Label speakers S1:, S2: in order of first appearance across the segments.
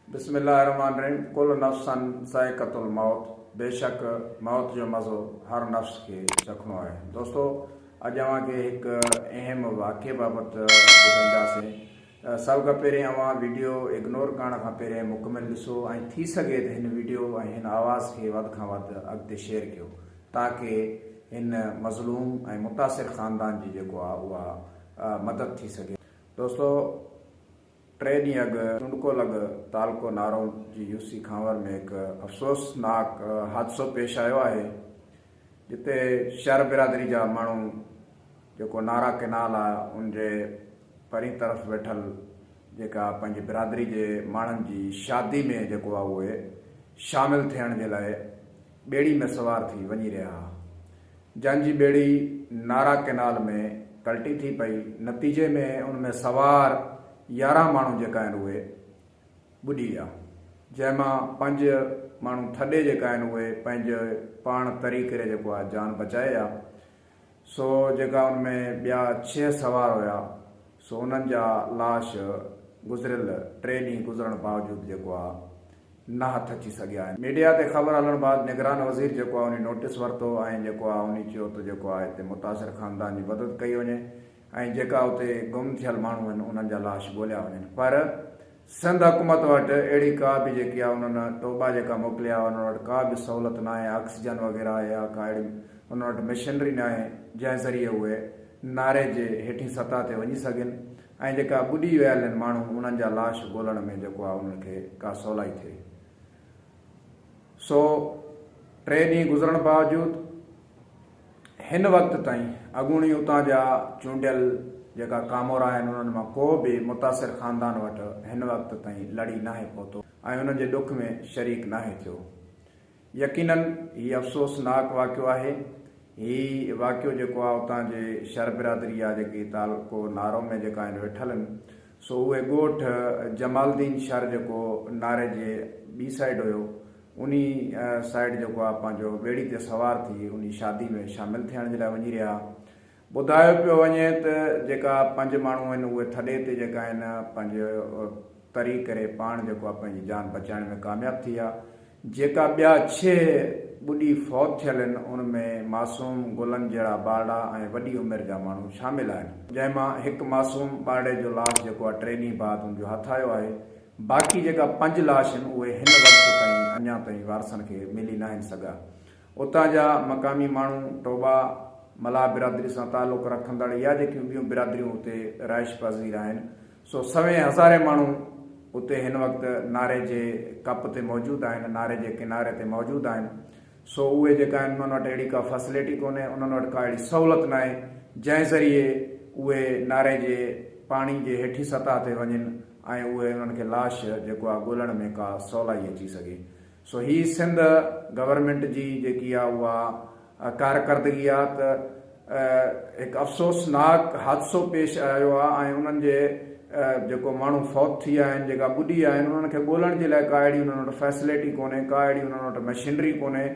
S1: بسم الله الرحمٰن الرحيم ڪل نفسً ذائقة الموت بيشڪ موت جو مزو هر نفس کي چکڻو آهي دوستو اڄ اوهان کي هڪ اهم واقعي بابت ٻڌائينداسين سڀ کان پهرين اوهان ويڊيو اگنور ڪرڻ کان پهرين مڪمل ڏسو ۽ ٿي سگهي ته هن ويڊيو ۽ هن آواز کي وڌ کان وڌ اڳتي شيئر ڪيو تاڪه هن مظلوم ۽ متاثر خاندان جي جيڪو آهي اها مدد ٿي سگهي دوستو ٽي ڏينهن اڳ چونڊڪو لڳ تعلقو نارون جي يو سي خانور ۾ هڪ افسوسناڪ حادثو پيش آيو آهي جتي شهر برادري جا ماڻهو جيڪو نارا ڪينال آهي ان جي پرين طرف ويٺل جيڪا پنهنجي برادري جي ماڻهن جي شادي ۾ جيڪو آهي اهي شامل ٿيڻ جي لاء ٻيڙي ۾ سوار ٿي وڃي رهيا ها، جن جي ٻيڙي نارا ڪئنال ۾ پلٽي ٿي پئي، نتيجي ۾ ان ۾ سوار يارهن ماڻهو جيڪا آهن اهي ٻڏي ويا، جنهن مان پنج ماڻهو ٿڏي جيڪا آهن اهي پنهنجي پاڻ تري ڪري جيڪو آهي جان بچائي ويا. سو جيڪا ان ۾ ٻيا ڇهه سوار هيا سو انهن جا لاش گذريل ٽي ڏينهن گذرڻ باوجود جيڪو آ نه هٿ اچي سگهيا آهن. ميڊيا تي خبر هلڻ بعد نگران وزير جيڪو آ انهي نوٽيس ورتو ۽ جيڪو آ انهي چيو ته جيڪو آ هتي متاثر خاندان جي مدد ڪئي وڃي ۽ جيڪا اتي گم ٿيل ماڻهو هن انهن جا لاش ڳوليا وڃن پر سنڌ حڪومت وٽ اهڙي ڪا به جيڪي آ انهن ٽوٻا جيڪا موڪليا آ انهن وٽ ڪا به سهولت ناهي آڪسيجن وغيره يا ڪا اهڙي انهن وٽ مشنري ناهي جنهن ذريعي اهي ناري جي هيٺين سطح تي وڃي سگهن ۽ جيڪا ٻڏي ويا لن ماڻهو انهن جا لاش ڳولڻ ۾ جيڪو آ انهن کي ڪا سولائي ٿئي سو ٽي ڏينهن گذرڻ باوجود هن وقت تائين اڳوڻي اتان جا چونڊيل جيڪا ڪامورا آهن انهن مان ڪو به متاثر خاندان وٽ هن وقت تائين لڙي ناهي پهتو ۽ انهن جي ڏک ۾ شريڪ ناهي ٿيو. يقينن هي افسوس ناڪ واقعو آهي. هي واقعو جيڪو آ اتان جي شر برادري جا جيڪي تعلقو نارو ۾ جيڪا آهن ويٺل ان سو اهي ڳوٺ جمالدين شر جيڪو ناري جي ٻي سائيڊ هيو انهي سائيڊ جيڪو آ پنهنجو ٻيڙي تي سوار ٿي انهي شادي ۾ شامل ٿيڻ جي لاء وڃي رهيا آ. ٻڌايو پيو وڃي ته جيڪا پنج ماڻهو آهن اهي ٿڏي تي جيڪا آهن پنهنجو تري ڪري پاڻ جيڪو آ پنهنجي جان بچائڻ ۾ ڪامياب ٿي ويا. جيڪا ٻيا ڇهه ٻڏي فوت ٿيل آهن ان ۾ معصوم، گلن جهڙا ٻارڙا ۽ وڏي عمر جا ماڻهو شامل آهن. جنهن مان هڪ معصوم ٻارڙي جو لاش جيڪو آ ٽي ڏينهن بعد ان جو هٿ آيو آهي. باقي جيڪا پنج لاش هن اهي هن وقت تائين اڃا تائين وارثن کي ملي ناهن سگهيا. اتان جا مقامي ماڻهو، ٽوٻا، ملاح برادري سان تعلق رکندڙ يا جيڪيون ٻيون برادريون اتي رهائش پذير آهن سو سوين هزارين ماڻهو اتي هن وقت ناري جي ڪپ تي موجود آهن ناري جي ڪناري تي موجود آهن سو اهي جيڪا آهن انهن وٽ اهڙي ڪا فيسليٽي ڪونهي انهن وٽ ڪا اهڙي سهولت ناهي جنهن ذريعي اهي ناري جي پاڻي جي هيٺين سطح تي وڃن ۽ اهي انهن کي لاش جيڪو آ ڳولڻ ۾ ڪا سولائي اچي سگهي سو هي سنڌ گورنمينٽ جي جيڪي آ اها ڪارڪردگي آ ته هڪ افسوسناڪ حادثو پيش آيو آ ۽ انهن جي جيڪو ماڻهو فوت ٿي آهن جيڪا ٻڏي آهن انهن کي ڳولڻ جي لاء ڪا اهڙي انهن وٽ فيسليٽي ڪونهي ڪا اهڙي انهن وٽ مشينري ڪونهي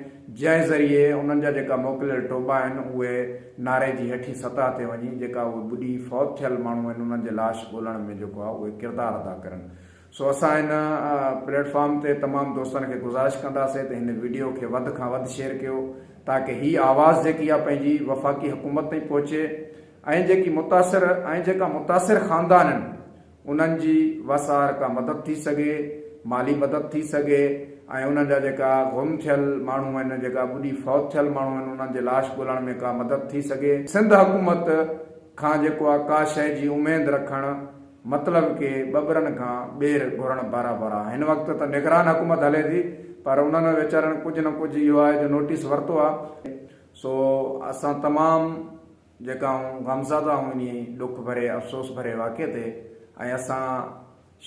S1: جنهن ذريعي انهن جا جيڪا موڪليل ٽوٻا آهن اهي ناري جي هيٺين سطح تي وڃي جيڪا اهي ٻڏي فوت ٿيل ماڻهو آهن انهن جي لاش ڳولڻ ۾ جيڪو آهي اهي ڪردار ادا ڪرن سو اسان هن پليٽ فارم تي تمام دوستن کي گذارش ڪنداسين ته هن وڊيو کي وڌ کان وڌ شيئر ڪيو تاڪه هي آواز جيڪي آهي پنهنجي وفاقي حڪومت تائين پهچي ۽ جيڪي متاثر ۽ جيڪا متاثر خاندان آهن انهن جي وس آهر ڪا مدد ٿي سگهي، مالي مدد ٿي سگهي ۽ انهن جا جيڪا گم ٿيل ماڻهو آهن، جيڪا ٻڏي فوت ٿيل ماڻهو آهن، انهن جي لاش ڳولڻ ۾ ڪا مدد ٿي سگهي. سنڌ حڪومت کان جيڪو آ ڪا شيء جي اميد رکڻ مطلب ڪي ٻٻرن کان ٻير گهرڻ برابر آ. هن وقت ته نگران حڪومت هلي ٿي پر انهن ويچارن ڪجهه نه ڪجهه اهو آهي جو نوٽيس ورتو آ. سو اسان تمام جيڪا آئون غمزده هوم انهي ڏک ڀري افسوس ڀري واقعي تي ۽ اسان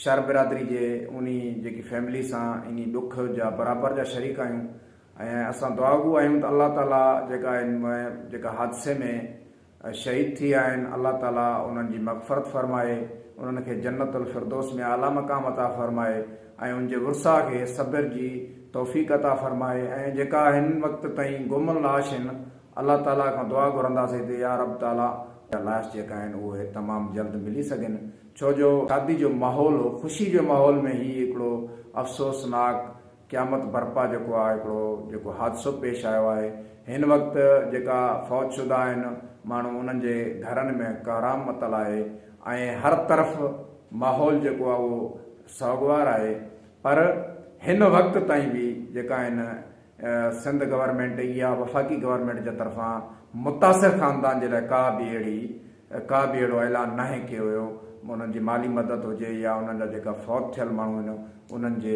S1: شر برادري جي انهي جيڪي فيملي سان انهي ڏک جا برابر جا شريڪ آهيون ۽ اسان دعاگو آهيون ته الله تعالي جيڪا ان م جيڪا حادثي ۾ شهيد ٿي ويا آهن الله تعالي انهن جي مغفرت فرمائي انهن کي جنت الفردوس ۾ اعليٰ مقام عطا فرمائي ۽ ان جي ورثاء کي صبر جي توفيق عطا فرمائي ۽ جيڪا هن وقت تائين گم لاش هن الله تعاليٰ کان دعا گهرنداسين ته يا رب تعاليٰ جا لاش جيڪا آهن اهي تمام جلد ملي سگهن ڇو جو شادي جو ماحول هو خوشي جي ماحول ۾ هي هڪڙو افسوسناڪ قيامت برپا جيڪو آهي هڪڙو جيڪو حادثو پيش آيو آهي هن وقت جيڪا فوت شده آهن ماڻهو انهن جي گهرن ۾ ڪهرام متل آهي ۽ هر طرف ماحول جيڪو آهي اهو سوڳوار آهي پر هن وقت تائين به جيڪا هن سنڌ گورنمينٽ يا وفاقي گورنمينٽ جي طرفان متاثر خاندان جي لاء ڪا به اهڙي ڪا به اهڙو اعلان ناهي ڪيو ويو انهن جي مالي مدد هجي يا انهن جا جيڪا فوت ٿيل ماڻهو آهن انهن جي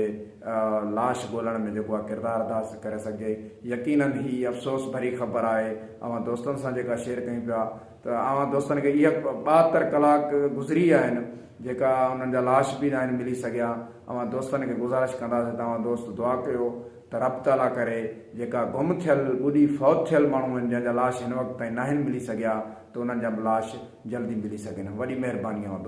S1: لاش ڳولڻ ۾ جيڪو آهي ڪردار ادا ڪري سگهجي يقينن هي افسوس ڀري خبر آهي اوهان دوستن سان جيڪا شيئر ڪيون پيا ته اوهان دوستن کي اهي ٻاهتر ڪلاڪ گذري ويا آهن جيڪا انهن جا لاش به ناهن ملي سگهيا اوهان دوستن کي گذارش ڪنداسين ته اوهان دوست دعا ڪيو ته رب تعالي ڪري جيڪا گم ٿيل، ٻڏي فوت ٿيل ماڻهو آهن جنهن جا لاش هن وقت تائين ناهن ملي سگهيا ته انهن جا به لاش جلدي ملي سگهن وڏي مهرباني اوهان دوستن.